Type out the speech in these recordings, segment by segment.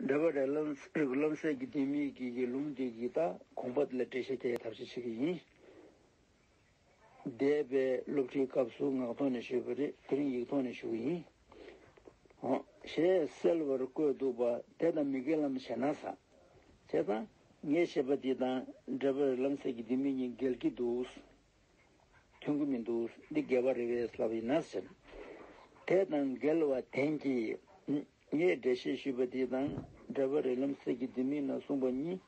འདྲ་པར་རེར་རིགས་རློམ་སེལ་གྱི་ལྡེ་མིག་གི་ཡུལ་ལུང་དེ་ཡི་དྭགས་གོང་པ་ལ་འགྲེལ་བཤད་རྒྱའི་ཐབས་ཤེས་བྱེད་ཀྱི་ཡིན། འདས་པའི་སློབ་ཁྲིད་སྐབས་སུ་ངག་ཐོག་ནས་ཞུས་པ་རེད་དེ་རིང་ཡིག་ཐོག་ནས་ཞུ་གི་ཡིན། ཞེས་གསལ་བར་བཀོད་འདུག་པ་དེ་དང་མི་འགལ་ལམ་ཞེ་ན་ཟ། བྱས་ཙང་ངས་བཤད་པ་འདི་དང་འདྲ་པར་རེར་རློམ་སེལ་གྱི་ལྡེ་མིག་གཉིས་འགལ་གྱི་འདུག། མཐུན་གྱི་མི་འདུག་འདི་འགལ་བ་རེད་བས་ལབ་ཡིན་ན་ཟེར། དེ་དང་འགལ་བ་དེང་གི་ངས་འགྲེལ་བཤད་ཞུས་པ་དེ་དང་འབྲེལ་བ་རེད་ལམ་སེང་གི་དེ་མིན་ན་གསུངས་པ་གཉིས།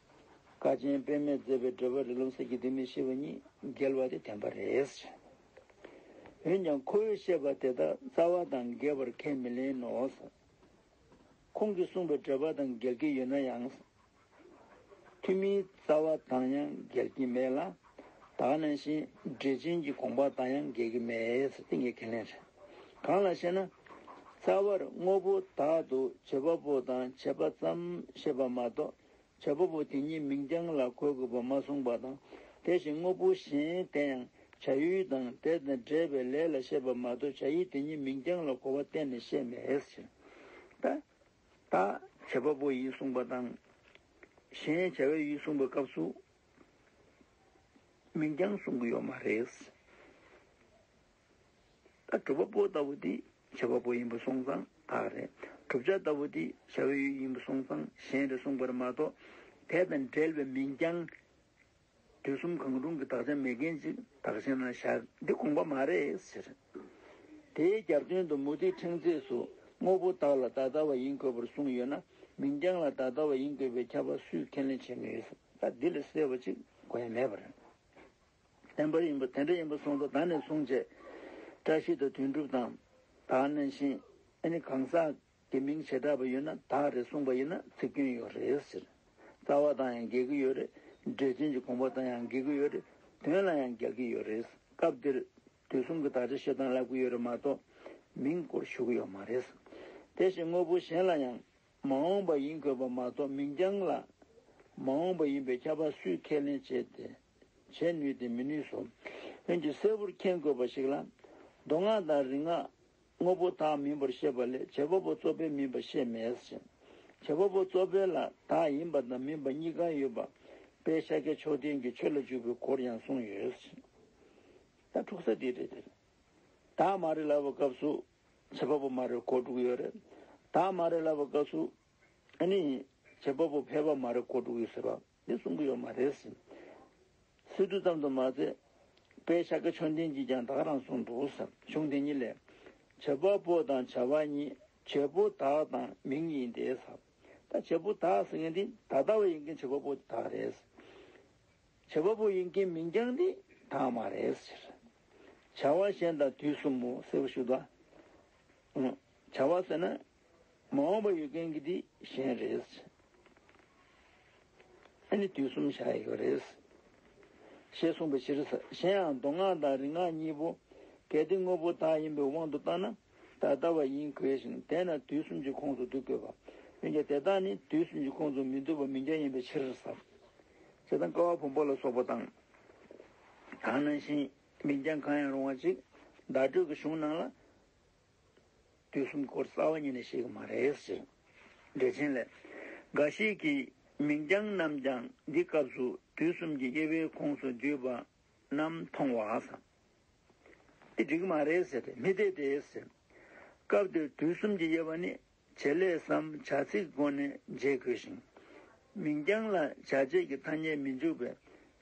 ཀ་ཆེན་པད་མས་མཛད་པའི་འགྲེལ་བ་རེད་ལམ་སེང་གི་དེ་མིན་ཞེས་པ་གཉིས་འགལ་བ་དེ་བདེན་པ་རེད། འོན་ཀྱང་ཁོ་བོས་བཤད་པ་དེ་དག་རྩ་བ་དང་འགལ་བར་ཁས་མི་ལེན་ནོ། ཁོང་གིས་གསུངས་པའི་འགྲེལ་པ་དང་འགལ་གྱི་ཡོད་ན་ཡང། ཐུན་མིན་རྩ་བ་དང་ཡང་འགལ་གྱི་མེད་ལ། དག་ནས་ཤིང་འབྲས་ཅན་གྱི་དགོངས་པ་དང་ཡང་འགལ་གྱི་མེད་ཏེ་ངས་ཁས་ལེན་བྱེད། གང་ལ་ཞེ་ན། རྩ་བར་དངོས་པོ་དག་ཏུ་བྱེད་པ་པོ་དང་བྱེད་པ་ཙམ་ཤེས་པ་མ་གཏོགས་བྱེད་པ་པོ་དེ་ཉིད་མིང་རྐྱང་ལ་གོ་དགོས་པ་མ་གསུངས་པ་དང། དེ་བཞིན་དངོས་པོ་གཞན་དེ་ཡང་བྱ་ཡུལ་དང་དེ་དང་འབྲེལ་བའི་ལས་ལ་ཤེས་པ་མ་གཏོགས་བྱ་ཡུལ་དེ་ཉིད་མིང་རྐྱང་ལ་གོ་བ་གཏན་ནས་བཤད་མེད་ཅེས། བྱེད་པ་པོ་ཡིས་གསུངས་པ་དང། གཞན་བྱ་བའི་ཡུལ་གསུངས་པའི་སྐབས་སུ། མིང་རྐྱང་གསུང་གི་ཡོད་མ་རེད། ད་གྲུབ་པ་པོ་ལྟ་བུ་དེ་བྱེད་པ་པོ་ཡིན་པ་སོང་ཙང་དག་རེད། གྲུབ་བྱ་ལྟ་བུ་དེ་བྱ་བའི་ཡུལ་ཡིན་པ་སོང་ཙང་གཞན་རེད་གསུངས་པར་མ་གཏོགས་དེ་དང་འབྲེལ་བའི་མིང་རྐྱང་དུས་གསུམ་གང་རུང་གི་བདག་ཅག་མེད་མཁན་ཅིག་བདག་ཞེ་ན་བཞག་འདི་དགོངས་པ་མ་རེད་ཟེར། དེའི་རྒྱབ་དོན་དུ་མུ་ཏིག་ཕྲེང་མཛེས་སུ་དངོས་པོ་བདག་ལ་ད་ལྟ་བ་ཡིན་དགོས་པར་གསུངས་ཡོད་ན་མིང་རྐྱང་ལ་ད་ལྟ་བ་ཡིན་དགོས་པའི་ཁྱབ་པ་སུས་ཁས་ལེན་བྱེད་ནུས། ད་འདི་ལས་གསལ་བ་ཅིག་གོ་ཡ་མེད་པ་རེད། བདེན་པར་ཡིན་པ་དེ་འདྲ་ཡིན་པ་གསུངས་ཐོག་ད་ནས་བཟུང་བྱས། བཀྲ་ཤིས་དང་དོན་གྲུབ་དང་དག་ནས་བཞིན་ཨ་ནི་གང་ཟག་དེ་མིང་བྱེ་བྲག་པ་ཡོད་ན་དག་རེད་གསུངས་པ་ཡིན་ན་ཚིག་སྐྱོན་ཡོད་རེད་ཟེར། རྩ་བ་དང་ཡང་འགལ་གྱི་ཡོད་རེད། འགྲེལ་ཆེན་གྱི་དགོངས་པ་དང་ཡང་འགལ་གྱི་ཡོད་རེད། དོན་ལ་ཡང་འགལ་གྱི་ཡོད་རེད། སྐབས་འདིར་དུས་གསུམ་གྱི་དག་ཆ་བཤད་སྟངས་བསླབ་ཀྱི་ཡོད་རེད་མ་གཏོགས། མིང་སྐོར་ཞུ་གི་ཡོད་མ་རེད། དེ་བཞིན་དངོས་པོ་གཞན་ལ་ཡང། མ་འོངས་པ་ཡིན་དགོས་པ་མ་གཏོགས་མིང་རྐྱང་ལ། མ་འོངས་པ་ཡིན་པའི་ཁྱབ་པ་སུས་ཁས་ལེན་བྱེད་དེ། བྱེད་ནུས་ཏེ་མི་ནུས་སོ། འོན་ཀྱང་གསལ་བོར་མཁྱེན་དགོས་པ་ཞིག་ལ། མདོ་སྔགས་དང་རིག་སྔགས། དངོས་པོ་དག་མིན་པར་བཤད་པ་ལས་བྱེད་པ་པོ་གཙོ་ཕལ་མིན་པ་བཤད་མེད་ཅིང། བྱེད་པ་པོ་གཙོ་ཕལ་ལ་དག་ཡིན་པ་དང་མིན་པ་གཉིས་ཀ་ཡོད་པ་དཔལ་ཤཱཀྱ་མཆོག་ལྡན་གྱིས་ཆོས་ལ་འཇུག་པའི་སྐོར་ཡང་གསུངས་ཡོད་ཅིང། ད་འཁྲུག་ས་དེ་རེད་དེ། དག་མ་རེད་ལབ་པའི་སྐབས་སུ། བྱེད་པ་པོ་མ་རེད་གོ་དྲུག་ཡོད་རེད། དག་མ་རེད་ལབ་པའི་སྐབས་སུ། ཨ་ནི། བྱེད་པ་པོ་ཕལ་པ་མ་རེད་གོ་དྲུག་ཡོད་ཟེར་བ། འདི་གསུང་གི་ཡོད་མ་རེད། སི་ཏུ་ཙམ་དུ་མ་ཟད། པའི་ཤ་ཀ་ཆོས་འདིན་གྱིས་ཀྱང་དག་རང་གསུངས་འདུག་གཞུང་དེ་ཉིད་ལས། བྱེད་པ་པོ་དང་བྱ་བ་ཉིད་བྱེད་པོ་དག་དང་མིང་ཡིན་ཏེ། ད་བྱེད་པོ་དག་ཟེར་མཁན་འདི་ད་ལྟ་བ་ཡིན་མཁན་བྱེད་པ་པོ་དེ་དག་རེད། བྱེད་པ་པོ་ཡིན་མཁན་མིང་རྐྱང་འདི་དག་མ་རེད། བྱ་བ་གཞན་དང་དུས་གསུམ་མོ་ཟེར་བ་ཞིག་ལ། བྱ་བ་ཟེར་ན། མ་འོངས་པ་ཡོད་མཁན་གྱི་དེ་གཞན་རེད། ཨ་ནི་དུས་གསུམ་བཞག་ཡོད་རེད། ཞེས་གསུངས་པའི་ཕྱིར། གཞན་ཡང་མདོ་སྔགས་དང་རིག་སྔགས་གཉིས་པོ་གལ་ཏེ་དངོས་པོ་དག་ཡིན་པའི་དབང་དུ་བཏང་ན་ད་ལྟ་བ་ཡིན་དགོས་ཤིང་དེས་ན་དུས་གསུམ་གྱི་ཁོངས་སུ་བསྡུ་དགོས་པ། འོན་ཀྱང་དེ་དག་ནི་དུས་གསུམ་གྱི་ཁོངས་སུ་མི་བསྡུ་བ་མི་འགལ་ཡིན་པའི་ཕྱིར། ཞེ་སྡང་དཀར་བ་བོང་བུ་ལ་སོགས་པ་དང། གང་ནང་བཞིན་མིང་རྐྱང་གང་ཡང་རུང་བ་ཅིག་བརྡ་སྤྲོད་ཀྱི་གཞུང་ནང་ལ། དུས་གསུམ་འཁོར་རྩ་བ་ཉིད་ནས་ཤེས་ཀྱི་མ་རེད་ཟེར། འགྲེལ་ཆེན་ལས། འགའ་ཞིག་གིས་མིང་རྐྱང་རྣམས་ཀྱང་འདི་སྐབས་སུ་དུས་གསུམ་གྱི་དབྱེ་བའི་ཁོངས་སུ་བརྒྱུད་པ་རྣམས་མཐོང་བ་དང། འདི་འགྲིག་གི་མ་རེད་ཟེར། མི་འཐད་དེ་ཟེར། སྐབས་འདིར་དུས་གསུམ་གྱི་དབྱེ་བ་ནི་བྱེད་ལས་སམ་བྱ་ཚིག་སྒོ་ནས་འབྱེད་དགོས་ཤིང། མིང་རྐྱང་ལ་བྱ་བྱེད་ཀྱི་ཐ་སྙད་མི་འཇུག་པས་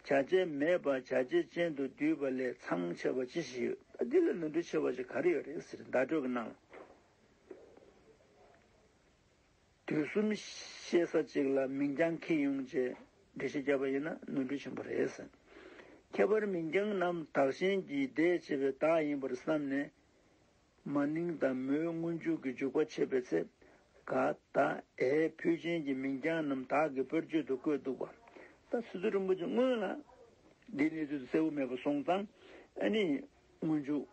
བྱ་བྱེད་མེད་པར་བྱ་བྱེད་ཅན་དུ་བསྡུས་པ་ལས་མཚང་ཆེ་བ་ཅི་ཞིག་ཡོད། འདི་ལས་ནོར་འཁྲུལ་ཆེ་བ་ཞིག་ག་རེ་ཡོད་རེད་ཟེར་བརྡ་སྤྲོད་པ་གནང། དུས་གསུམ་ཤེས་ས་ཅིག་ལ་མིང་རྐྱང་ཁེ་ཡོང་རྗེས་འགྲེལ་བཤད་བརྒྱབ་པ་ཡིན་ན་ནོར་འཁྲུལ་ཆེན་པོ་རེད་ཟེར། ཁྱད་པར་མིང་རྐྱང་རྣམས་དག་ཞེན་གྱིས་བདས་བྱས་པའི་དག་ཡིན་པར་བསམས་ནས་མ་ནིང་དང་མོའི་སྔོན་འཇུག་གི་འཇུག་པ་འཆད་པའི་ཚེ། ག་ད་ཨའི་ཕུད་ཅན་གྱི་མིང་རྐྱང་རྣམས་དག་གི་དཔེར་བརྗོད་དུ་བཀོད་འདུག་པ། ད་སི་ཏུ་རིན་པོ་ཆེ་སྔོན་ལ། འདིའི་གནས་ཚུལ་དུ་གསལ་བོ་མེད་པ་སོང་ཙང། ཨ་ནི། སྔོན་འཇུག།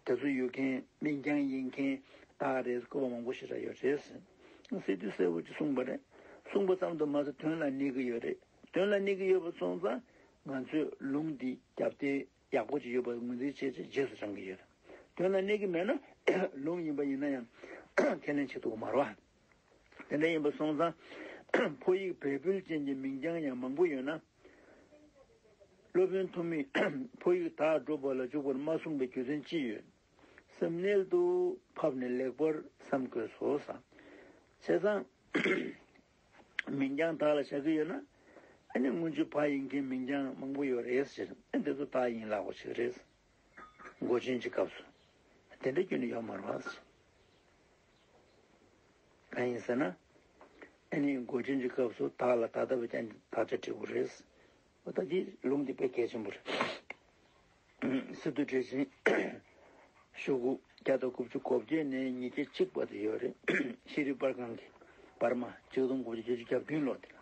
དེ་ཚོ་ཡོད་མཁན་མིང་རྐྱང་ཡིན་མཁན་དག་རེད་བཀོད་པ་མང་པོ་ཞིག་རག་ཡོད་རེད། སི་ཏུས་གསལ་བོ་ཅིག་གསུངས་པ་རེད། གསུངས་པ་ཙམ་དུ་མ་ཟད་དོན་ལ་གནས་ཀྱི་ཡོད་རེད། དོན་ལ་གནས་ཀྱི་ཡོད་པ་སོང་ཙང། ང་ཚོས་ལུང་འདི་རྒྱབ་རྟེན། ཡག་པོ་ཅིག་ཡོད་པར་ངོས་འཛིན་བྱེད་ཚེ་རྗེས་སུ་འབྲང་གི་ཡོད། དོན་ལ་གནས་ཀྱི་མེད་ན། ལུང་ཡིན་པ་ཡིན་ན་ཡང། ཁས་ལེན་བྱེད་དུ་མ་རུང། དེ་འདྲ་ཡིན་པ་སོང་ཙང། ཕོ་ཡིག་བལ་པོལ་ཅན་གྱི་མིང་རྐྱང་ཡང་མང་པོ་ཡོད་ན། སློབ་དཔོན་ཐོན་མིས་ཕོ་ཡིག་དག་སྒྲུབ་པ་ལ་འཇུག་པར་མ་གསུངས་པའི་རྒྱུ་མཚན་ཅི་ཡོད། སེམས་རྣལ་དུ་ཕབ་ནས་ལེགས་པར་བསམ་དགོས་སོ། བྱས་ཙང། མིང་རྐྱང་དག་ལ་བཞག་གི་ཡོད་ན། ཨ་ནི་སྔོན་ཆོས་ཕག་ཡིན་མཁན་མིང་རྐྱང་མང་པོ་ཡོད་རེད་ཟེར། ཨ་འདི་ཚོ་དག་ཡིན་ལགས་པ་ཞིག་རེད། མགོ་ཆེན་གྱི་སྐབས་སུ་དེ་འདྲ་རྒྱུན་ནས་ཡོད་མ་རེད། གང་ཡིན་ཟེར་ན། ཨ་ནི་མགོ་ཆེན་གྱི་སྐབས་སུ་དག་ལ་ད་ལྟ་བས་ཀྱང་དག་ཆ་དྲིས་པོ་རེད། ཨོ་ད་འདི་ལུང་འདི་དཔེ་གལ་ཆེན་པོ་རེད། སི་ཏུ་ཀྲི་ཆིན། ཤོག་གུ་བརྒྱ་དང་དགུ་བཅུ་གོ་བརྒྱད་ནས་ཉིས་བརྒྱ་གཅིག་བར་དུ་ཡོད་རེད། ཤེས་རིག་དཔར་ཁང་གིས་འབར་མ་གཅིག་སྟོང་དགུ་བརྒྱ་བརྒྱད་ཅུ་གྱ་བདུན་ལོ་དེ་ལ།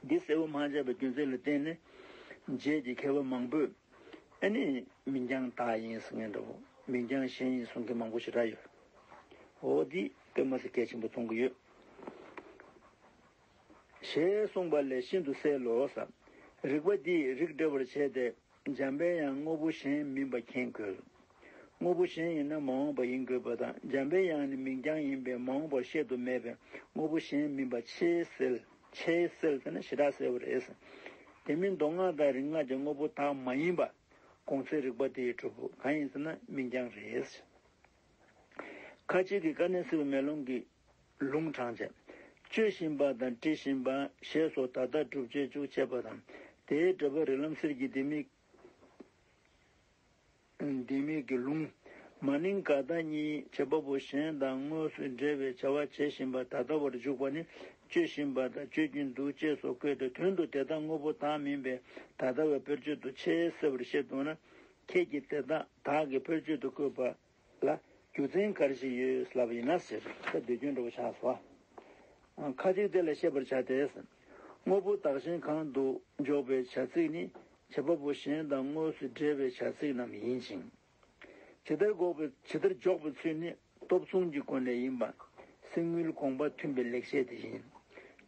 འདི་གསལ་བོ་མ་བྱས་པའི་རྒྱུ་མཚན་ལ་བརྟེན་ནས་རྗེས་ཀྱི་མཁས་པ་མང་པོས་ཨེ་ནི་མིན་ཀྱང་དག་ཡིན་ཟེར་མཁན་འདྲ་བོ་མིན་ཀྱང་གཞན་ཡིན་གསུང་མཁན་མང་པོ་ཞིག་རག་ཡོད། འོ་འདིས་དཔེ་མ་ཟད་གལ་ཆེན་པོ་མཐོང་གི་ཡོད། ཞེས་གསུངས་པ་ལས་ཤིན་ཏུ་གསལ་ལོ། རིགས་པ་འདིས་རིགས་འདྲ་བར་བྱས་ཏེ་འཇམ་པའི་ཡང་དངོས་པོ་གཞན་མིན་པ་མཁྱེན་དགོས། དངོས་པོ་གཞན་ཡིན་ན་མ་འོངས་པ་ཡིན་དགོས་པ་དང་འཇམ་པའི་ཡང་ནི་མིང་རྐྱང་ཡིན་པས་མ་འོངས་པར་བཤད་དུ་མེད་པས་དངོས་པོ་གཞན་མིན་པ་ཆེས་གསལ། ཆེས་གསལ་ཟེར་ན་ཞེ་དྲག་གསལ་བ་རེད། དེ་མིན་མདོ་སྔགས་དང་རིག་སྔགས་ཀྱི་དངོས་པོ་དག་མ་ཡིན་པ་གོང་ཚེ་རིགས་པ་དེའི་གྲུབ་བོ་གང་ཡིན་ཟེར་ན་མིང་རྐྱང་རེད། ཁ་ཅིག་གིས་ཀ་ནན་སིལ་མེ་ལོང་གི་ལུང་དྲངས། བཅོས་བཞིན་པ་དང་དཀྲི་བཞིན་པ་ཞེས་སོགས་ད་ལྟ་སྒྲུབ་བྱེད་བཅུ་ཕྱེད་པ་དང། དེའི་འགྲེལ་པ་རི་ལམ་གསེར་གྱི་ལྡེ་མིག། ལྡེ་མིག་གི་ལུང། མ་ནིང་ག་ད་གཉིས་བྱེད་པ་པོ་གཞན་དང་དངོས་སུ་འབྲེལ་བའི་བྱ་བ་བྱེད་བཞིན་པ་ད་ལྟ་བར་འཇུག་པ་ནི་བཅོས་བཞིན་པ་དང་བཅོས་ཀྱིན་འདུག་ཅེས་སོགས་བཀོད་དེ་དོན་དུ་དེ་དག་དངོས་པོ་དག་མིན་པས་ད་ལྟ་བའི་བེར་སྤྱོད་དུ་ཆེས་གསལ་བར་བཤད་འདུག་ན། ཁྱེད་ཀྱིས་དེ་དག་དག་གི་བེར་སྤྱོད་དུ་བཀོད་པ། ལ། རྒྱུ་མཚན་གར་ཞིག་ཡོད་ལབ་ཡིན་ན་ཟེར། ཁྱེད་འདོད་སྐྱོན་འགྲོ་བ་ཆགས་སོ། ཁ་ཅིག་དེ་ལ་ཤེས་པར་བྱ་སྟེ། དངོས་པོ་བདག་གཞན་གང་དུ་འཇོག་པའི་བྱ་ཚིག་ནི་བྱེད་པ་པོ་གཞན་དང་དངོས་སུ་འབྲེལ་བའི་བྱ་ཚིག་རྣམས་ཡིན་ཅིང། ཇི་ལྟར་འགོག་པའི་ཇི་ལྟར་འཇོག་པའི་ཚུལ་ནི་སྟོབས་མཚུངས་ཀྱི་སྒོ་ནས་ཡིན་པ། གསེར་དངུལ་དགོངས་པ་མཐུན་པའི་ལེགས་བཤད་དེ་བཞིན།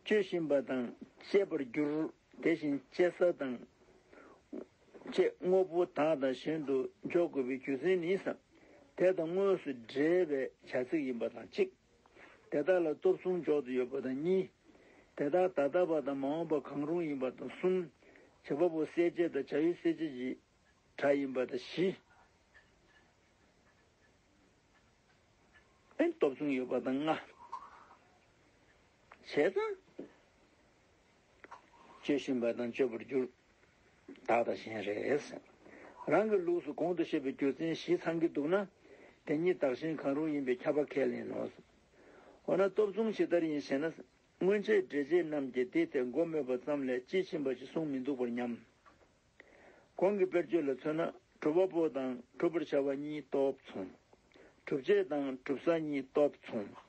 སྤྱོད་བཞིན་པ་དང་བཤད་པར་འགྱུར། དེ་བཞིན་གཅེས་ས་དང། བཅས་དངོས་པོ་དག་དང་གཞན་དུ་འཇོག་དགོས་པའི་རྒྱུ་མཚན་ནི། དེ་དང་དངོས་སུ་འབྲེལ་བའི་བྱ་ཚིག་ཡིན་པ་དང་གཅིག། དེ་དག་ལ་སྟོབས་མཚུངས་འཇོག་ཏུ་ཡོད་པ་དང་གཉིས། དེ་དག་ད་ལྟ་བ་དང་མ་འོངས་པ་གང་རུང་ཡིན་པ་དང་གསུམ། བྱེད་པ་པོ་གསལ་བྱེད་དང་བྱ་ཡུལ་གསལ་བྱེད་ཀྱི་སྒྲ་ཡིན་པ་དང་བཞི། སྟོབས་མཚུངས་ཡོད་པ་དང་ལྔ། བྱས་ཙང། སྤྱོད་བཞིན་པ་དང་སྤྱོད་པར་འགྱུར། བདག་དང་གཞན་རེས། རང་གི་ལུགས་སུ་གོང་དུ་བཤད་པའི་རྒྱུ་མཚན་བཞི་ཚང་གི་འདུག་ན། དེ་གཉིས་བདག་གཞན་གང་རུང་ཡིན་པའི་ཁྱབ་པ་ཁས་ལེན་ནོ། འོ་ན་སྟོབས་མཚུངས་ཇི་ལྟར་ཡིན་ཞེ་ན། སྔོན་ཆད་འགྲེལ་བྱེད་རྣམས་ཀྱིས་དེའི་ཐད་མགོ་སྨོས་པ་ཙམ་ལས་དཔྱིས་ཕྱིན་པ་ཞེས་གསུངས་མི་འདུག་པར་སྙམ། གོང་གི་དཔེར་བརྗོད་ལ་མཚོན་ན་གྲུབ་བ་པོ་དང་གྲུབ་པར་བྱ་བ་གཉིས་སྟོབས་མཚུངས། གྲུབ་བྱེད་དང་གྲུབ་ས་གཉིས་སྟོབས་མཚུངས།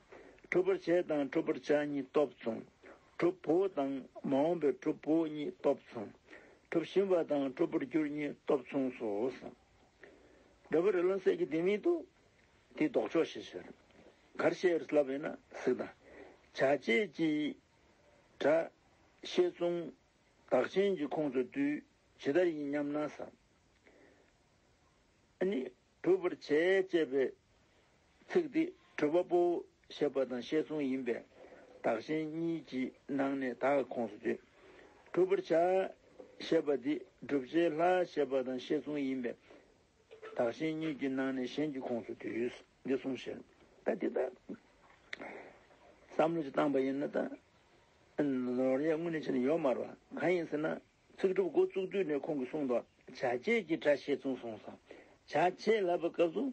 གྲུབ་པར་བྱེད་དང་གྲུབ་པར་བྱ་གཉིས་སྟོབས་མཚུངས། གྲུབ་བོ་དང་མ་འོངས་པའི་གྲུབ་བོ་གཉིས་སྟོབས་མཚུངས། གྲུབ་བཞིན་པ་དང་གྲུབ་པར་འགྱུར་གཉིས་སྟོབས་མཚུངས་སོ། འདོད་པ་རི་ལོན་གསེར་གྱི་ལྡེ་མིག་ཏུ། དེའི་ལྡོག་ཕྱོགས་ཞེས་ཟེར། གར་བཤད་རི་སླ་བས་ན་གཟིགས་དང། བྱ་བྱེད་ཀྱི། སྒྲ། ཤེས་མཚུངས། བདག་གཞན་གྱི་ཁོངས་སུ་བསྡུས་ཇི་ལྟར་ཡིན་སྙམ་ན་བསམ། ནི། གྲུབ་པར་བྱས་ཅེས་པའི་ཚིག་འདི་གྲུབ་པ་པོ་ཞེས་པ་དང་བཤད་མཚུངས་ཡིན་པས་བདག་གཞན་གཉིས་ཀྱི་ནང་ནས་བདག་གི་ཁོངས་སུ་བསྡུས། གྲུབ་པར་བྱ་ཞེས་པ་འདི་བསྒྲུབ་བྱའི་ལྷ་ཞེས་པ་དང་བཤད་མཚུངས་ཡིན་པས་བདག་གཞན་གཉིས་ཀྱི་ནང་ནས་གཞན་གྱི་ཁོངས་སུ་བསྡུས། འདི་གསུངས་ཕྱིར། ད་འདི་ལྟར། བསམ་བློ་ཅི་བཏང་པ་ཡིན་ན་ད། ཡང་སྔོན་ནས་བྱས་ནས་ཡོད་མ་རུང། གང་ཡིན་ཟེར་ན། ཚིག་གྲུབ་འགོ་བཙུགས་དུས་ནས་ཁོང་གིས་གསུངས་འདུག་བྱ་བྱེད་ཀྱི་སྒྲ་བཤད་ཚུལ་གསུངས་སོང། བྱ་བྱེད་ལབ་པའི་སྐབས་སུ།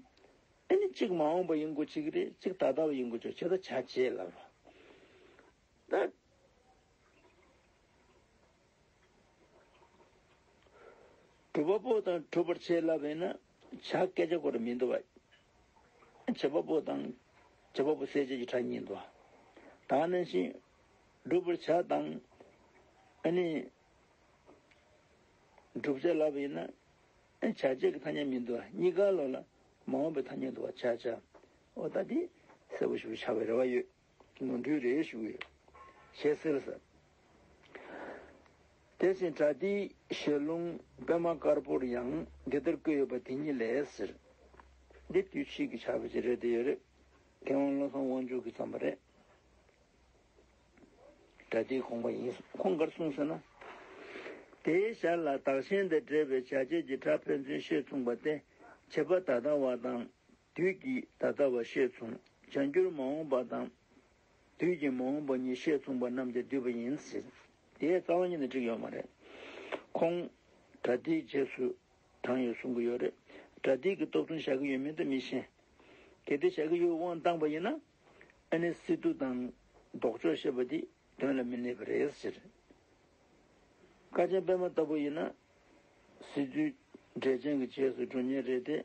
དེ་ནི་གཅིག་མ་འོངས་པ་ཡིན་དགོས་གཅིག་རེད་གཅིག་ད་ལྟ་བ་ཡིན་དགོས་ཆོག་བྱས་ད་བྱ་བྱེད་ལབ་རོགས། གྲུབ་པ་པོ་དང་གྲུབ་པར་བྱེད་ལབ་པ་ཡིན་ན། བྱ། སྐད་ཆ་གོ་རེ་མི་འདུ་བ། བྱེད་པ་པོ་དང། བྱེད་པ་པོ་གསལ་བྱེད་ཀྱི་ཕྲ་གཉིས་འདུ་བ། དང་ནི་བཞིན། བསྒྲུབ་པར་བྱ་དང། ཨ་ནི། བསྒྲུབ་བྱ་ལ་བས་ན། བྱ་བྱེད་ཀྱི་ཐ་སྙད་མི་འདུ་བ་གཉིས་ཀ་ལོགས་ལ། མ་འོངས་པའི་ཐ་སྙད་འདུ་བ་བྱ་བྱ། འོ་ད་དེ། གསལ་པོ་ཞུ་བར་བྱ་བའི་རེ་བ་ཡོད། ནོར་འཁྲུལ་རེ་ཞུགས་ཡོད། ཞེས་ཟེར། ཟེར། དེ་བཞིན་གྲྭ་དེའི་ཞལ་ལུང་པད་མ་དཀར་པོར་ཡང་འདི་ལྟར་བཀོད་ཡོད་པ་དེ་ཉིད་ལས་ཟེར། འདི་དུས་ཕྱིས་ཀྱི་བྱ་བ་ཅི་རེད་འདི་ཡོད་རེད། མཁས་དབང་བློ་བཟང་དབང་ཕྱུག་གིས་བརྩམས་པ་རེད། གྲྭ་དེའི་ཁོང་པ་ཡིན། ཁོང་གར་གསུངས་ཟེར་ན། དེའི་ཞར་ལ་དག་ཞན་དེ་འདྲེས་པའི་བྱ་བྱེད་ཀྱི་སྒྲ་ཕན་ཚུན་ཤེས་མཚུངས་པ་སྟེ། བྱེད་པ་ད་ལྟ་བ་དང་དུས་ཀྱིས་ད་ལྟ་བ་ཤེས་མཚུངས་བྱང་གྱུར་མ་འོངས་པ་དང། དུས་ཀྱིས་མ་འོངས་པ་ཉིད་ཤེས་མཚུངས་པ་རྣམས་ཀྱིས་བསྡུས་པ་ཡིན་ཟེར། དེའི་རྩ་བ་ཉིད་ནས་འགྲིག་ཡོད་མ་རེད། ཁོང། གྲ་སྒྲིག་རྗེས་སུ་འབྲངས་ཡོད་གསུང་གི་ཡོད་རེད། གྲ་སྒྲིག་གི་རྟོག་ཐུང་བཞག་གི་ཡོད་མིན་དུ་མི་ཤེས། གལ་ཏེ་བཞག་གི་ཡོད་དབང་བཏང་པ་ཡིན་ན། ཨ་ནེ་སི་ཏུ་དང་ལྡོག་ཕྱོགས་བཤད་པ་འདི་དོན་ལ་མི་གནས་པ་རེད་ཟེར། ཀ་ཆེན་པད་མ་ལྟ་བུ་ཡིན་ན། སྲིད་ཇུས་འབྲས་ཆན་གྱི་རྗེས་སུ་འགྲོ་ཉེན་རེད་དེ།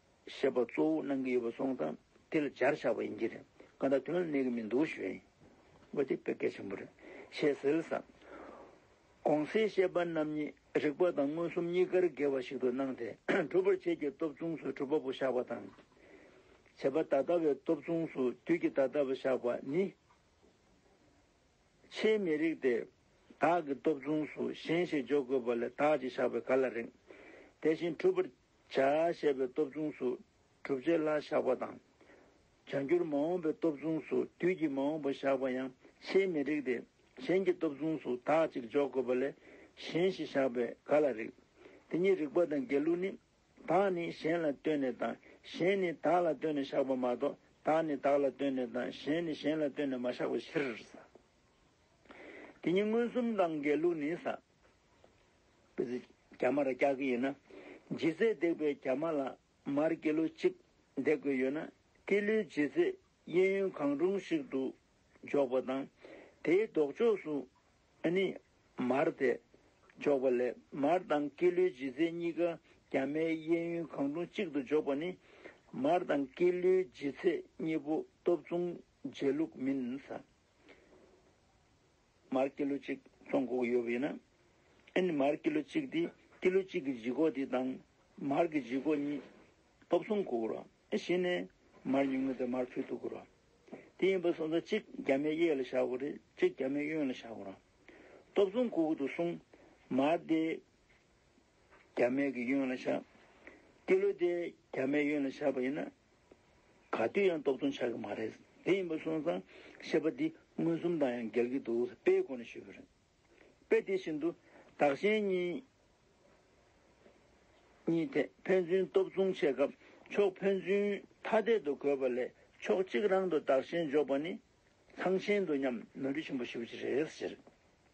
ཞེས་པ་གཙོ་བོ་གནང་གི་ཡོད་པ་སོང་ཙང་དེ་ལ་སྦྱར་བཞག་པ་ཡིན་གྱི་རེད་ག་ད་དོན་ལ་གནས་ཀྱི་མི་འདུག་ཞུ་ཡིན་ཨོ་དེ་དཔེ་གལ་ཆེན་པོ་རེད་ཞེས་ཟེར་ས། གོང་གསལ་བཤད་པ་རྣམས་ཉིད་རིག་པ་དང་མངོན་སུམ་གཉིས་ཀར་འགལ་བ་ཞིག་ཏུ་སྣང་སྟེ་གྲུབ་པར་བྱེད་ཀྱི་སྟོབས་མཚུངས་སུ་གྲུབ་པ་པོ་བཞག་པ་དང། བྱེད་པ་ད་ལྟ་བའི་སྟོབས་མཚུངས་སུ་དུས་ཀྱི་ད་ལྟ་བ་བཞག་པ་ནི། ཆེས་མི་རིགས་ཏེ། བདག་གི་སྟོབས་མཚུངས་སུ་གཞན་ཞིག་འཇོག་དགོས་པ་ལས་བདག་ཅེས་བཞག་པའི་ག་ལ་རིགས། དེ་བཞིན་གྲུབ་པར། བྱ་བྱས་པའི་སྟོབས་མཚུངས་སུ་གྲུབ་བྱེད་ལྷ་བཞག་པ་དང། བྱ་འགྱུར་མ་འོངས་པའི་སྟོབས་མཚུངས་སུ་དུས་ཀྱི་མ་འོངས་པ་བཞག་པ་ཡང་ཆེས་མི་རིགས་ཏེ་གཞན་གྱི་སྟོབས་མཚུངས་སུ་དག་ཅིག་འཇོག་དགོས་པ་ལས་གཞན་ཞེས་བཞག་པས་ག་ལ་རིགས། དེ་ཉིད་རིགས་པ་དང་འགལ་ལུགས་ནི། དག་ནི་གཞན་ལ་ལྟོས་ནས་དང་གཞན་ནི་དག་ལ་ལྟོས་ནས་བཞག་པ་མ་གཏོགས་དག་ནི་དག་ལ་ལྟོས་ནས་དང་གཞན་ནི་གཞན་ལ་ལྟོས་ནས་མ་བཞག་པའི་ཕྱིར། དེ་ཉིད་མངོན་སུམ་དང་འགལ་ལུགས་ནི། རྒྱ་མ་ལ་རྒྱག་གི་ཡིན་ན། ལྗིད་ཚད་འདེགས་པའི་རྒྱ་མ་ལ་མར་ཀི་ལོ་གཅིག་འདེགས་དགོས་ཡོད་ན། ཀི་ལོའི་ལྗིད་ཚད་གཡས་གཡོན་གང་རུང་ཞིག་ཏུ་འཇོག་པ་དང། དེའི་ལྡོག་ཕྱོགས་སུ་ནི་མར་དེ་འཇོག་པ་ལས་མར་དང་ཀི་ལོའི་ལྗིད་ཚད་གཉིས་ཀ་རྒྱ་མའི་གཡས་གཡོན་གང་རུང་གཅིག་ཏུ་འཇོག་པ་ནི། མར་དང་ཀི་ལོའི་ལྗིད་ཚད་གཉིས་པོ་སྟོབས་མཚུངས་རྗེས་ལུགས་མིན། མར་ཀི་ལོ་གཅིག་ཙོང་གོག་ཡོད་པའི་ན། ཨེ་ནི་མར་ཀི་ལོ་གཅིག་དེ་ཀི་ལོ་གཅིག་གི་བརྗིད་གོག་དེ་དང་མར་གི་བརྗིད་གོག་གཉིས། སྟོབས་གསུམ་གོག་རོ་ཨེ་ཞེ་ནས་མར་ཉུང་ངུ་དེ་མར་ཕུལ་དུ་གོ་རོ། དེ་ཡིན་པ་སོང་ཙང་གཅིག་རྒྱ་མའི་གཡས་ལ་བཞག་གོ་རེ་གཅིག་རྒྱ་མའི་གཡོན་ལ་བཞག་གོ་རོ། སྟོབས་གསུམ་གོག་གི་དུ་གསུངས། མར་དེ། རྒྱ་མེད་ཀྱི་གཡོན་ལ་བཞག། ཀི་ལོ་དེ་རྒྱ་མའི་གཡོན་ལ་བཞག་པ་ཡིན་ན། ག་དུས་ཡང་རྟོག་བཏོན་ཆགས་ཀྱི་མ་རེད། དེ་ཡིན་པ་སོང་ཙང་བཤད་པ་འདི་མངོན་སུམ་དང་ཡང་འགལ་གྱི་འདུག་དཔེའི་སྒོ་ནས་ཞུས་པ་རེད། དཔེ་དེ་བཞིན་དུ་བདག་གཞན་གཉིས་གཉིས་ཐད་ཕན་ཚུན་སྟོབས་མཚུངས་བྱེད་སྐབས་ཕྱོགས་ཕན་ཚུན་ཐ་དད་དུ་འགོད་པ་ལས་ཕྱོགས་གཅིག་རང་དུ་བདག་གཞན་འཇོག་པ་ནི་ཚང་ཆེན་དོ་མཉམ་ནོར་འཁྲུལ་ཆེན་པོ་ཞིག་རེད་ཟེར།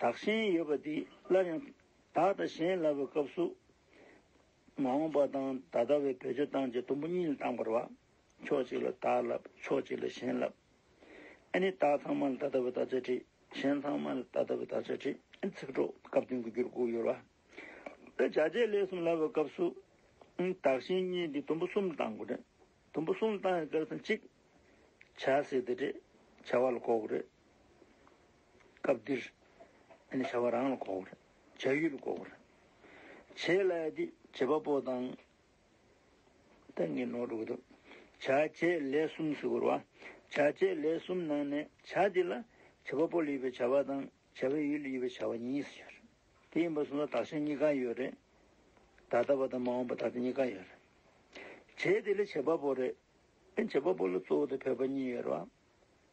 བདག་གཞན་ཡོད་པ་འདི་སླར་ཡང་བདག་དང་གཞན་ལབ་པའི་སྐབས་སུ། མ་འོངས་པ་དང་ད་ལྟ་བའི་བོད་སྤྱོད་སྟངས་ཀྱི་དུམ་བུ་གཉིས་ལ་བཏང་བར་བ། ཕྱོགས་གཅིག་ལ་བདག་ལབ་ཕྱོགས་གཅིག་ལ་གཞན་ལབ། ཨ་ནི་བདག་ཚང་མ་ལ་ད་ལྟ་བའི་བདག་ཅག་བྲིས། གཞན་ཚང་མ་ལ་ད་ལྟ་བའི་བདག་ཅག་བྲིས་ཨ་ནི་ཚིག་གྲོགས་སྐབས་བསྟུན་གྱི་རྒྱུར་བཀུག་ཡོད་བ། ད་བྱ་བྱེད་ལས་གསུམ་ལབ་པའི་སྐབས་སུ། བདག་གཞན་གཉིས་འདི་དུམ་བུ་གསུམ་ལ་བཏང་དགོས་རེད། དུམ་བུ་གསུམ་ལ་བཏང་བའི་སྐབས་སུ་གཅིག། བྱ་ཟེར་དེ་རེད། བྱ་བ་ལ་གོ་དགོས་རེད། སྐབས་འདིར། ནི་བྱ་བ་རང་ལ་གོ་བར་བྱ། ཡུལ་ལ་གོ་བར་བྱེད་ལ་དེ་བྱེད་པ་པོ་དང། ཏེ་ངེས་ནོར་དྲུག་དུ། བྱ་བྱེད་ལས་གསུམ་སུ་གུར་བ། བྱ་བྱེད་ལས་གསུམ་ནང་ནས་བྱ་དེ་ལ་བྱེད་པ་པོ་ལ་ཡོད་པའི་བྱ་བ་དང་བྱ་བའི་ཡུལ་ལ་ཡོད་པའི་བྱ་བ་གཉིས་སུ་འགྱུར། དེ་ཡིན་པར་གསུངས་ལ་དག་བྱ་གཉིས་ཀ་ཡོད་རེད། ད་ལྟ་བ་དང་མ་འོངས་པ་ད་ལྟ་གཉིས་ཀ་ཡོད་རེད། བྱེད་དེ་ལ་བྱེད་པ་པོ་རེད། བྱེད་པ་པོ་ལ་གཙོ་བོ་དང་ཕལ་པ་གཉིས་ཡོད་རེད།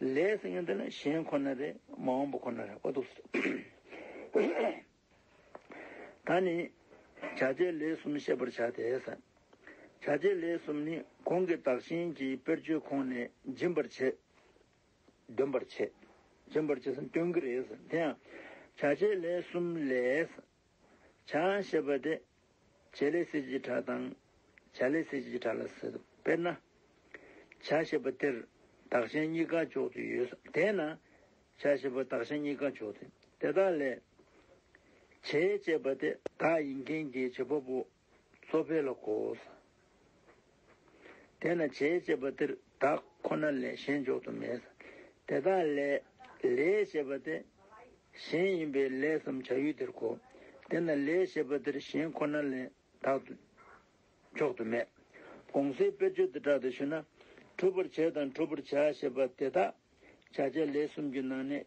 ལས་སེང་གེ་འདི་ལ་གཞན་ཁོ་ན་རེ་མ་འོངས་པ་ཁོ་ན་རེ་ཨོ་ཐུགས་སུ་ད་ནི་བྱ་བྱེད་ལས་གསུམ་ཤེས་པར་བྱ་སྟེ། བྱ་བྱེད་ལས་གསུམ་ནི་གོང་གི་བདག་གཞན་གྱི་དཔེར་བརྗོད་ཁོང་ནས་འབྱིན་པར་བྱེད། འདོན་པར་བྱེད། འབྱིན་པར་བྱེད་སྟོན་གྱི་རེད་དེ་ཡང་བྱ་བྱེད་ལས་གསུམ་ལས། བྱ་ཞེས་པ་དེ་བྱེད་ལས་སྲིད་ཀྱི་གྲྭ་དང། བྱ་ལས་སྲིད་ཀྱི་གྲྭ་ལ་ཟེར། དཔེར་ན། བྱ་ཞེས་པ་དེར་དག་ཆེན་གཉིས་ཀ་འཇོག་རྒྱུ་ཡོད། དེས་ན། བྱ་ཞེས་པར་དག་ཆེན་གཉིས་ཀ་འཇོག་དེ། དེ་དག་ལས། བྱེད་ཅེས་པ་དེ་དག་ཡིན་མཁན་གྱི་བྱེད་པ་པོ། གཙོ་ཕལ་ལ་གོ། དེས་ན་བྱེད་ཅེས་པ་འདིར་བདག་ཁོ་ན་ལས་གཞན་འཇོག་ཏུ་མེད། དེ་དག་ལས། ལས་ཞེས་པ་སྟེ། གཞན་ཡིན་པས་ལས་སམ་བྱ་ཡུལ་དེར་གོ། དེས་ན་ལས་ཞེས་པ་འདིར་གཞན་ཁོ་ན་ལས་བདག་ཏུ་འཇོག་ཏུ་མེད། གོང་སའི་དཔེར་བརྗོད་དེ་དག་དུ་ཞུ་ན། གྲུབ་པར་བྱེད་དང་གྲུབ་པར་བྱ་ཞེས་པ་དེ་དག་བྱ་བྱེད་ལས་གསུམ་གྱི་ནང་ནས་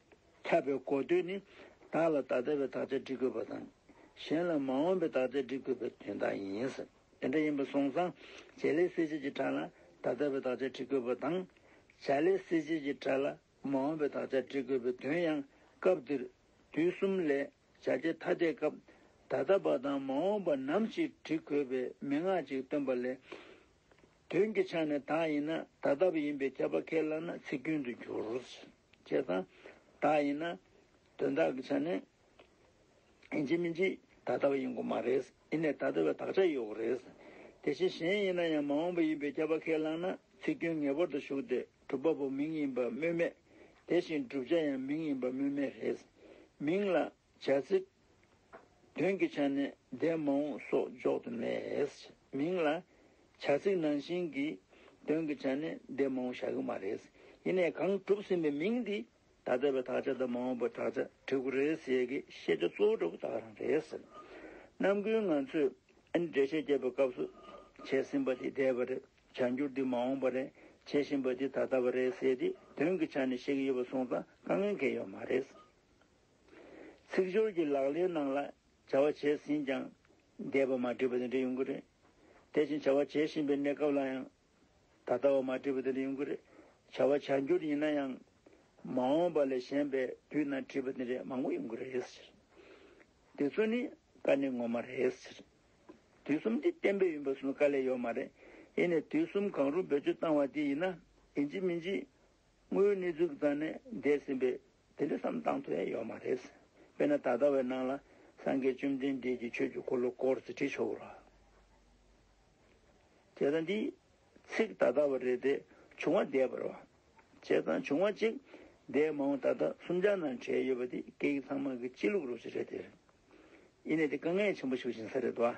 ཁྱབ་པའི་གོ་དོན་ནི། བདག་ལ་ད་ལྟ་བའི་དག་ཆ་འདྲི་དགོས་པ་དང། གཞན་ལ་མ་འོངས་པའི་དག་ཆ་འདྲི་དགོས་པའི་དོན་དག་ཡིན། དེ་འདྲ་ཡིན་པ་སོང་ཙང་བྱེད་ལས་སྲིད་བྱེད་ཀྱི་གྲྭ་ལ་ད་ལྟ་བའི་དག་ཆ་འདྲི་དགོས་པ་དང། བྱ་ལས་སྲིད་བྱེད་ཀྱི་གྲྭ་ལ་མ་འོངས་པའི་དག་ཆ་འདྲི་དགོས་པའི་དོན་ཡང་སྐབས་འདིར། དུས་གསུམ་ལས་བྱ་བྱེད་ཐ་དད་སྐབས། ད་ལྟ་བ་དང་མ་འོངས་པ་ནམ་ཞིག་འདྲི་དགོས་པའི་མན་ངག་ཅིག་སྟོན་པ་ལས། དོན་གྱི་ཆ་ནས་དག་ཡིན་ན་ད་ལྟ་བུ་ཡིན་པའི་ཁྱབ་པ་ཁས་བླངས་ན་ཚིག་སྐྱོན་དུ་འགྱུར། ཅེས་དང། དག་ཡིན་ན། དོན་དག་གི་ཆ་ནས། ཡིན་གཅིག་མིན་གཅིག་ད་ལྟ་བ་ཡིན་དགོས་མ་རེད། ཡིན་ནས་ད་ལྟ་བའི་དག་ཆ་ཡོད་དགོས་རེད། དེ་བཞིན་གཞན་ཡིན་ན་ཡང་མ་འོངས་པ་ཡིན་པའི་ཁྱབ་པ་ཁས་བླངས་ན་ཚིག་སྐྱོན་ངེས་པར་དུ་ཞུགས་ཏེ་གྲུབ་པ་པོ་མིང་ཡིན་པ་སྨོས་མེད། དེ་བཞིན་བསྒྲུབ་བྱ་ཡང་མིང་ཡིན་པ་སྨོས་མེད་རེད། མིང་ལ། བྱ་ཚིག། དོན་གྱི་ཆ་ནས་འདས་མ་འོངས་སོགས་འཇོག་ཏུ་མེད། མིང་ལ། བྱ་ཚིག་ནང་བཞིན་གྱི། དོན་གྱི་ཆ་ནས་འདས་མ་འོངས་བྱ་གི་མ་རེད། ཡིན་ནས་གང་གྲུབ་ཟིན་པའི་མིང་འདི་ད་ལྟ་བའི་དག་ཆ་དང་མ་འོངས་པའི་དག་ཆ་བྲི་གོ་རེད་ཟེར་གི་བཤད་བྱ་གཙོ་བོ་གྲོགས་པོ་དག་རང་རེད། རྣམ་ཀུན་ང་ཚོས་ཨ་ནི་འགྲེལ་བཤད་བརྒྱབ་པའི་སྐབས་སུ། བྱས་ཟིན་པ་འདི་འདས་པ་རེད། བྱ་འགྱུར་འདི་མ་འོངས་པ་རེད། བྱས་བཞིན་པ་འདི་ད་ལྟ་བ་རེད་ཟེར་ཏེ་དོན་གྱི་ཆ་ནས་བཤད་ཀྱི་ཡོད་པ་སོང་ཙང་དཀའ་ངལ་འགེལ་ཡོད་མ་རེད། ཚིག་སྦྱོར་གྱི་ལག་ལེན་ནང་ལ་བྱ་བ་བྱས་ཟིན་ཀྱང་འདས་པ་མ་བྲིས་པ་དེ་འདྲ་ཡོང་གི་རེད། དེ་བཞིན་བྱ་བ་བྱེད་བཞིན་པའི་གནས་སྐབས་ལ་ཡང་ད་ལྟ་བ་མ་བྲིས་པ་དེ་འདྲ་ཡོང་གི་རེད། བྱ་བ་བྱ་འགྱུར་ཡིན་ན་ཡང་མ་འོངས་པ་ལས་གཞན་པའི་དུས་ན་བྲིས་པ་དེ་འདྲ་མང་པོ་ཡོང་གི་རེད་ཟེར། དེ་ཚོ་ནི་བཀའ་ནི་ངོ་མ་རེད་ཟེར། དུས་གསུམ་དེ་གཏན་འབེབས་ཡིན་པ་སུ་ལ་བཀའ་ལས་ཡོད་མ་རེད། ཡིན་ནས་དུས་གསུམ་གང་རུང་བེད་སྤྱོད་བཏང་བ་དེ་ཡིན་ན་ཡིན་གཅིག་མིན་གཅིག་དངོས་གནས་གཙུག་རྩ་ནས་འདས་ཟིན་པས་དེ་འདྲ་བསམ་བཏང་ཐུབ་ཡས་ཡོད་མ་རེད། དཔེར་ན་ད་ལྟ་བའི་སྣང་ལ་སངས་རྒྱས་བཅོམ་ལྡན་འདས་ཀྱི་ཆོས་ཀྱི་འཁོར་ལོ་སྐོར་ཅིག་བྲིས་ཆོག་ར་ཅེས་དང་འདིའི་ཚིག་ད་ལྟ་བ་རེད་དེ་བྱུང་བ་འདས་པར་བ་ཅེས་དང་བྱུང་བ་གཅིག་འདས་མ་འོངས་ད་ལྟ་གསུམ་ཆ་ནང་བྲིས་ཡོད་པ་དེ་སྐད་ཡིག་ཚང་མ་གི་སྤྱི་ལུགས་རུ་ཅིག་རེད་དེ། ཡིན་ནས་དེ་དཀའ་ངལ་ཆེན་པོ་ཞིག་བྱིན་ས་རེད་བ།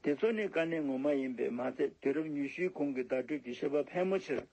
དེ་ཚོ་ནི་དཀའ་གནད་ངོ་མ་ཡིན་པས་མ་ཚད་དུས་རབས་ཉུ་ཤུའི་གོང་གི་བརྡ་སྤྲོད་ཀྱི་ཤེས་པ་ཕལ་མོ་ཆེར།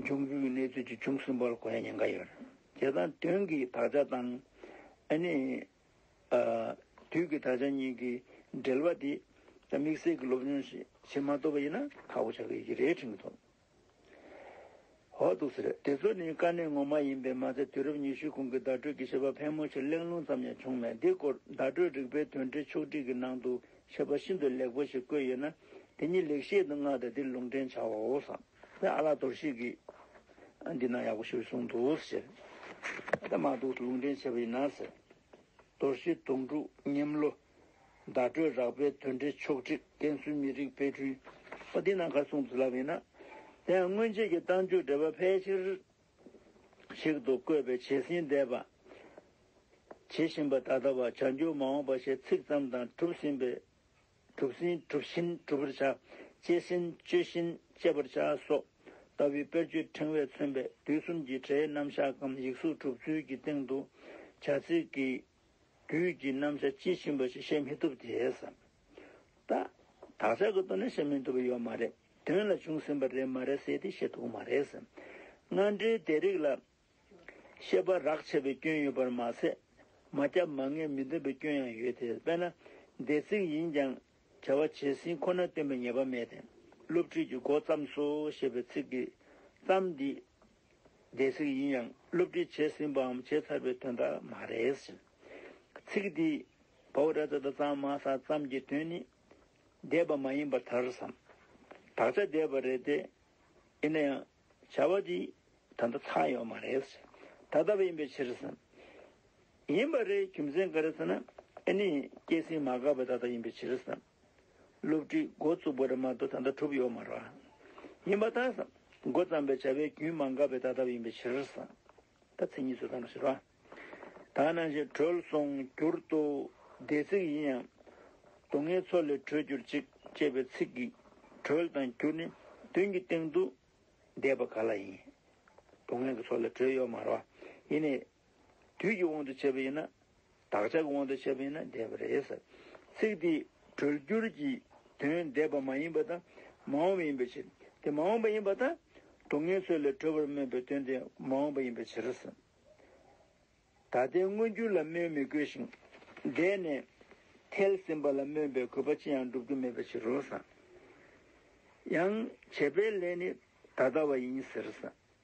འབྱུང་འགྱུར་གྱི་གནས་ཚུལ་ཅི་བྱུང་གསུངས་པར་གོ་ཡ་ཉེན་ཁ་ཡོད། བྱེད་སྟངས་དོན་གྱི་དག་ཆ་དང། ཨ་ནི། དུས་ཀྱི་དག་ཆ་གཉིས་ཀྱི་འབྲེལ་བ་དེ་དམིགས་བསལ་གྱི་སློབ་སྦྱོང་ཞིག་བྱེད་མ་ཐུབ་པ་ཡིན་ན་ཁག་པོ་ཆགས་ཀྱི་ཡོད་ཀྱི་རེད་དྲན་གྱི་འདུག་ཧོ་འདུག་ཟེར། དེ་ཚོ་ནི་དཀའ་གནད་ངོ་མ་ཡིན་པས་མ་ཚད་དུས་རབས་ཉི་ཤུའི་གོང་གི་བརྡ་སྤྲོད་ཀྱི་བྱེད་པ་ཕལ་མོ་ཆེར་གླེང་སློང་ཙམ་ཡང་བྱུང་མེད་འདི་སྐོར་བརྡ་སྤྲོད་རིག་པའི་དོན་འབྲས་ཕྱོགས་བསྒྲིགས་ཀྱི་ནང་དུ་མཆོད་པ་ཤིན་ཏུ་ལེགས་པོ་ཞིག་བཀོད་ཡོད་ན། དེ་ཉིད་ལེགས་བཤད་དུ་མངའ་སྟེ་འདིར་ལུང་འདྲེན་བྱའོ། དེར་ཨ་ལགས་དོར་ཞིག་གིས། འདི་ན་ཡག་པོ་ཞུ་གསུངས་འདུག་ཟེར། ད་མ་འདུག་ལུང་འདྲེན་བྱེད་པ་ཡིན་ན་ཟེར། དོར་ཞིག་དོང་སྤྲུགས་སྙེམས་བློ། བརྡ་སྤྲོད་རགས་པའི་དོན་འབྲེལ་ཕྱོགས་བསྒྲིགས་བསྟན་སྲུང་མི་རིགས་དཔེ་སྐྲུན། འདི་ན་གར་གསུངས་འདུག་ལབ་ཡིན་ན། དེ་ཡང་སྔོན་ཆད་ཀྱི་གཏམ་རྒྱུད་འགྲེལ་པ་ཕལ་ཆེར། ཞིག་ཏུ་བཀོད་པའི་བྱས་ཟིན་འདས་པ། བྱེད་བཞིན་པ་ད་ལྟ་བ་བྱ་འགྱུར་མ་འོངས་པ་ཞེས་ཚིག་ཙམ་དང་གྲུབ་ཟིན་པའི་གྲུབ་ཟིན་གྲུབ་བཞིན་གྲུབ་པར་བྱ། སྤྱད་ཟིན་སྤྱོད་བཞིན་སྤྱད་པར་བྱ་སོགས་ལྟ་བུའི་དཔེར་བརྗོད་ཕྲེང་བས་མཚོན་པའི་དུས་གསུམ་གྱི་སྒྲའི་རྣམ་གཞག་གམ་ཡིག་གཟུགས་གྲུབ་ཚུལ་གྱི་སྟེང་དུ། བྱ་ཚིག་གི་རྒྱུད་ཀྱི་རྣམ་གཞག་དཔྱིས་ཕྱིན་པ་ཞིག་བཤད་མི་ཐུབ་དེས། དག་བྱ་གི་དོན་ནི་བཤད་མི་ཐུབ་པ་ཡོད་མ་རེད། དོན་ལ་བྱུང་ཟིན་པ་རེད་མ་རེད་ཟེར་ཏེ་བཤད་ཐུབ་ཀྱི་མ་རེད། སྔ་འགྲོའི་དེ་རིགས་ལ། ཤེས་པ་རག་ཆད་པའི་སྐྱོན་ཡོད་པར་མ་ཟད། མ་སྐྱབས་མ་ངེས་མི་འདོད་པའི་སྐྱོན་ཡང་ཡོད་དེ། དཔེར་ན། འདས་ཚིག་ཡིན་ཀྱང། བྱ་བ་བྱས་ཟིན་ཁོ་ན་སྟོན་པའི་ངེས་པ་མེད་དེ། སློབ་ཁྲིད་ཀྱི་འགོ་བརྩམས་སོ་ཞེས་པའི་ཚིག་གི། བརྩམས་འདི། འདས་ཚིག་ཡིན་ཡང་སློབ་ཁྲིད་བྱས་ཟིན་པའམ་བྱས་ཚར་བའི་དོན་དག་མ་རེད། ཚིག་འདི། བའོ་རེ་ད་ད་ཙམ་མ་ས་ཙམ་གྱི་དོན་ནི། འདས་པ་མ་ཡིན་པར་ཐར་བསམ། བདག་ཅག་འདས་པ་རེད་དེ། ཡིན་ན་ཡང། བྱ་བ་འདི། ད་ལྟ་ཚར་ཡོང་མ་རེད། ད་ལྟ་བ་ཡིན་པའི་ཕྱིར་བསམ། ཡིན་པ་རེད་རྒྱུ་མཚན་ག་རེ་ཟེར་ན། ཨེ་ནི། སྐྱེས་ཟིན་མ་འགགས་པའི་ད་ལྟ་ཡིན་པའི་ཕྱིར་བསམ། བསླུ་བྲིད་འགོ་བཙུགས་པ་རེད་མ་གཏོགས་ད་ལྟ་གྲུབ་ཡོང་མ་རེད། ཡིན་པ་ད་བསམ། འགོ་བརྩམས་པའི་བྱ་བའི་རྒྱུན་མ་འགགས་པའི་ད་ལྟ་བ་ཡིན་པའི་ཕྱིར་བསམ། ད་ཚིག་གཉིས་སུ་བཟློག་ན་ཞེས་པ། དག་སྣང་བཞིན་གྲོལ་སོང་གྱུར་ཏོ། འདས་ཚིག་ཡིན་ཡང་སྡུག་བསྔལ་མཚོ་ལས་གྲོལ་གྱུར་ཅིག་ཅེས་པའི་ཚིག་གིས་གྲོལ་དང་གྱུར་ནི་བདུན་གྱི་སྟེང་དུ་འདས་པ་ག་ལ་ཡིན། སྡུག་བསྔལ་གྱི་མཚོ་ལས་གྲོལ་ཡོད་མ་རོ། ཡིན་ནས། དུས་ཀྱི་དབང་དུ་བྱས་པ་ཡིན་ན། བདག་ཅག་གི་དབང་དུ་བྱས་པ་ཡིན་ན་བདེ་བ་རེད། ཚིག་དེས་གྲོལ་བསྒྱུར་གྱི་དོན་བདེ་བ་མ་ཡིན་པ་དང་མ་འོངས་པ་ཡིན་པའི་ཕྱིར། དེ་མ་འོངས་པ་ཡིན་པ་དང། གྲོགས་ངན་ཚོས་ལས་གྲོལ་བར་སྨོན་པའི་དོན་དེ་མ་འོངས་པ་ཡིན་པའི་ཕྱིར། ད་ལྟའི་མངོན་རྒྱུ་ལ་སྨོན་མི་དགོས་ཤིང། འདས་ནས་ཐལ་ཟིན་པ་ལ་སྨོན་པའི་དགོས་པ་ཅི་ཡང་འགྲུབ་རྒྱུ་མེད་པའི་ཕྱིར་རོ། ཡང་བྱས་པའི་ལས་ནི་ད་ལྟ་བ་ཡིན་ཟེར།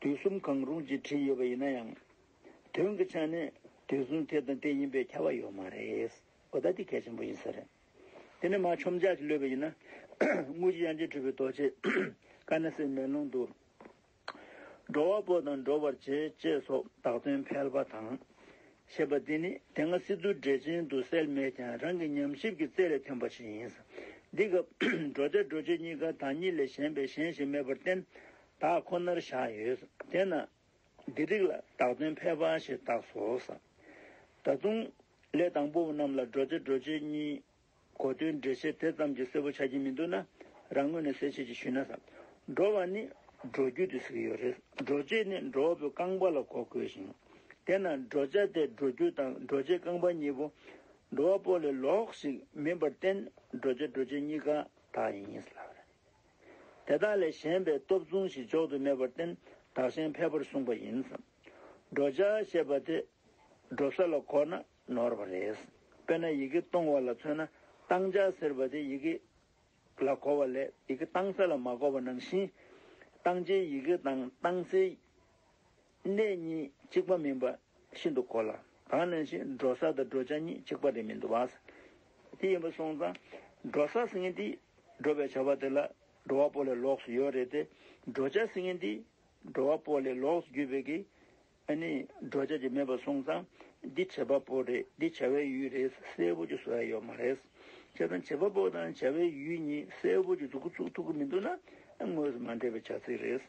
དུས་གསུམ་གང་རུང་ཅེས་བྲིས་ཡོད་པ་ཡིན་ན་ཡང། དོན་གྱི་ཆ་ནས་དུས་གསུམ་དེ་དང་དེ་ཡིན་པའི་ཁྱབ་བ་ཡོད་མ་རེད། གོ་བརྡ་འདི་གལ་ཆེན་པོ་ཡིན་ས་རེད། དེ་ནི་མ་ཆོམ་ཇག་གིས་བསླུས་པ་ཡིན་ན། དངུལ་གྱི་དབྱངས་ཅན་སྤྲུལ་པའི་རྡོ་རྗེས། ཀ་ན་སེའི་མེ་ལོང་དུ། འགྲོ་བ་པོ་དང་འགྲོ་བར་བྱེད་ཅེས་སོགས་དག་དོན་ཕལ་པ་དང། ཞེས་པ་འདི་ནི་དེ་སྔ་སི་ཏུ་འགྲེལ་ཆེན་དུ་གསལ་མེད་ཀྱང་རང་གི་ཉམས་ཞིབ་ཀྱི་རྩལ་ལས་ཐོན་པ་ཞིག་ཡིན། འདི་སྐབས་བགྲོ་བྱ་བགྲོད་བྱེད་གཉིས་ཀ་དང་གཉིས་ལས་གཞན་པའི་གཞན་ཞིག་མེད་པར་བརྟེན་དག་ཁོ་ནར་བཞག་ཡོད། དེས་ན། འདི་རིགས་ལ་དག་དོན་ཕལ་པ་ཞིག་བཏགས་སོ། ད་དུང། ལས་དང་པོ་རྣམས་ལ་བགྲོ་བྱ་བགྲོད་བྱེད་གཉིས། གོ་དོན་འགྲེལ་བྱེད་དེ་ཙམ་གྱིས་གསལ་པོ་ཆགས་ཀྱི་མི་འདུག་ན་རང་ངོས་ནས་གསལ་བྱེད་ཅིག་ཞུས་ན། འགྲོ་བ་ནི་འགྲོ་རྒྱུ་དུས་སུ་ཡོད་རེད། འགྲོ་བྱེད་ནི་འགྲོ་བ་པོའི་རྐང་པ་ལ་གོ་དགོས་ཤིང། དེས་ན་འགྲོ་བྱ་དེ་འགྲོ་རྒྱུ་དང་འགྲོ་བྱེད་རྐང་པ་གཉིས་པོ། འགྲོ་བ་པོ་ལས་ལོགས་ཤིག་མིན་པར་བརྟེན་འགྲོ་བྱ་འགྲོ་བྱེད་གཉིས་ཀ་དག་ཡིན་ངེས་ལགས། དེ་དག་ལས་གཞན་པའི་སྟོབས་མཚུངས་ཤིག་འཇོག་ཏུ་མེད་པར་བརྟེན་བདག་གཞན་ཕལ་པར་གསུངས་པ་ཡིན། འགྲོ་བྱ་ཞེས་པ་དེ་འགྲོ་ས་ལ་གོ་ན། ནོར་བ་རེད། དཔེར་ན་ཡི་གེ་སྟོང་བ་ལ་མཚོན་ན་སྟང་ཆ་ཟེར་བ་དེ་ཡི་གེ་ལ་གོ་བ་ལས་ཡི་གེ་སྟང་ས་ལ་མ་གོ་བ་ནང་བཞིན། སྟང་ཆའི་ཡི་གེ་དང་སྟང་སའི་གནས་གཉིས་གཅིག་པ་མིན་པ་ཤིན་ཏུ་གོ་སླ། གང་ནང་བཞིན་འགྲོ་ས་དང་འགྲོ་བྱ་གཉིས་གཅིག་པ་རེད་མི་འདུག་བ། དེ་ཡིན་པ་སོང་ཙང་འགྲོ་ས་ཟེར་མཁན་དེས་འགྲོ་བའི་བྱ་བ་དེ་ལ་འགྲོ་བ་པོ་ལས་ལོགས་སུ་ཡོད་རེད་དེ། འགྲོ་བྱ་ཟེར་མཁན་དེས་འགྲོ་བ་པོ་ལས་ལོགས་སུ་རྒྱུ་བས་ཀྱི། ཨ་ནི་འགྲོ་བྱ་ཅིག་མེད་པར་སོང་ཙང་འདི་བྱེད་པ་པོ་རེད་འདི་བྱ་བའི་ཡུལ་རེད་གསལ་པོ་ཅིག་བཟོ་ཡ་ཡོད་མ་རེད། བྱས་ཙང་བྱེད་པ་པོ་དང་བྱ་བའི་ཡུལ་གཉིས་གསལ་པོ་ཅིག་འཛུགས་ཀི་ཚུགས་ཐུབ་ཀི་མི་འདུག་ན་དངོས་སུ་མ་འདྲེས་པའི་བྱ་ཚིག་རེད།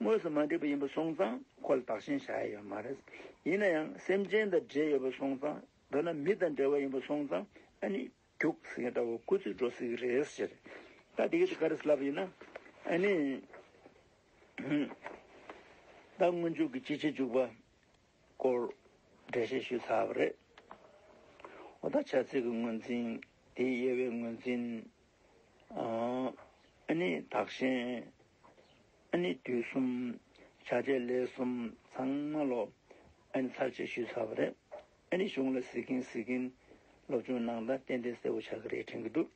དངོས་སུ་མ་འདྲེས་པ་ཡིན་པར་སོང་ཙང་ཁོ་ལ་བདག་ཞེན་བྱ་ཡ་ཡོད་མ་རེད། ཡིན་ན་ཡང་སེམས་ཅན་དང་འབྲེལ་ཡོད་པར་སོང་ཙང་མདོར་ན་མི་དང་འབྲེལ་བ་ཡིན་པར་སོང་ཙང་ཨ་ནི། རྒྱུགས་ཟེར་མཁན་འདྲ་བོ་སྐུ་ཚེ་འགྲོ་སྲིད་ཀྱི་རེད་ཟེར། ད་དེ་ག་དེ་ག་རེད་ལབ་ཡིན་ན། ཨ་ནི། ད་སྔོན་འཇུག་གི་སྤྱི་བྱེ་འཇུག་པ་སྐོར་འགྲེལ་བཤད་ཞུས་ཚར་བ་རེད། འོ་ད་ཆ་ཚིག་གི་ངོས་འཛིན་དེའི་དབྱེ་བའི་ངོས་འཛིན། ཨ་ནི་དག་ཞན། ཨ་ནི་དུས་གསུམ། བྱ་བྱེད་ལས་གསུམ་ཚང་མ་ལོ། ཨ་ནི་ཚར་བཅད་ཞུས་ཚར་བ་རེད། ཨ་ནི་གཞུང་ལ་གཟིགས་ཀྱིན་གཟིགས་ཀྱིན། སློབ་ཆུང་ནང་ད་གཏན་འདི་གསལ་བོ་ཆགས་ཀྱི་རེད་དྲན་གྱི་འདུག་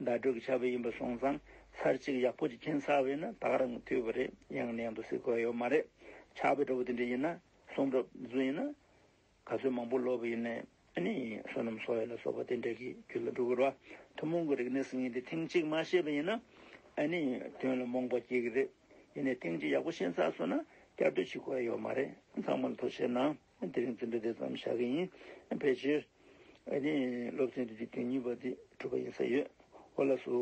ཟླ་དྲུག་གི་ཆར་བུ་ཡིན་པ་སོང་ཙང་ཚར་གཅིག་ཡག་པོ་ཅིག་འཁྱེར་ཚར་བས་ན་དག་རང་གི་དུས་བབ་རེད་ཡང་ནས་ཡང་དུ་གཟིགས་དགོས་ཡོད་མ་རེད། ཆར་བུ་འདྲ་བོ་དེ་འདྲ་ཡིན་ན་གསུང་རབ་རྫུན་ཡིན་ན། ག་ཚོད་མང་པོ་སློབ་བུ་ཡིན་ནའི་ཨ་ནི་བསོད་ནམས་སོགས་ཡོད་ལ་སོགས་པ་དེ་འདྲ་གི་རྒྱུད་ལ་འགྲོ་གི་རོ། ཐུན་མོང་གི་རིག་གནས་ཟིག་ཡིན་དེ་ཐེངས་གཅིག་མ་ཤེས་པ་ཡིན་ན་ཨ་ནི་དོན་ལ་རྨོངས་པ་སྐྱེ་གི་རེད། ཡིན་ནའི་ཐེངས་གཅིག་ཡག་པོ་ཤེས་ཚར་སོང་ན་བསྐྱར་ཟློས་བྱེད་དགོས་ཡོད་མ་རེད། ཚང་མར་མཐོ་ཆེ་ན། དེ་རིང་འཛིན་གྲྭ་དེ་ཙམ་བཞག་གི་ཡིན། ཕལ་ཆེར་སློབ་ཚན་དེ་དུས་བདུན་གཉིས་པ་དེ་གྲུབ་པ་ཡིན་ས་ཡོད་འོ་ལ་སུ།